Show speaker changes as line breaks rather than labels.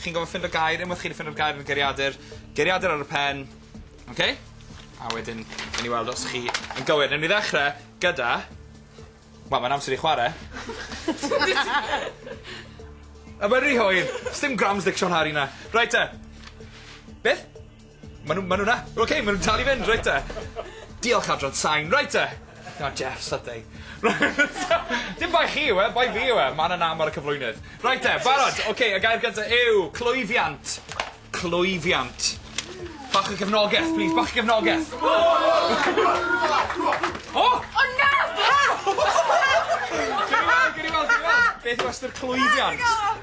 Chi'n gorfod ffindo gair unwaith chi 'di ffindo'r gair yn y geiriadur geiriadur ar y pen. Oce? A wedyn newn ni weld os chi yn gywir. Newn ni ddechre gyda... Wel mae'n amser i chware. A mae'n ry hwyr. Sdim Grammstick Siôn Harry 'na. Reit te. Beth? Ma' nw ma' nw 'na! Oce ma' nw'n dal i fynd reit 'te. Diolch adran sain reit 'te. Na Jeff sydau. Dim bai chi yw e bai fi yw e. Ma' 'na nam ar y cyflwynydd. Reit 'te barod oce y gair gynta yw clwyfiant. Clwyfiant. Bach o gefnogeth plîs bach o gefnogeth.
O! O na! Pam? Gewn ni weld
gewn ni weld gewn ni weld. Beth yw ystyr clwyfiant?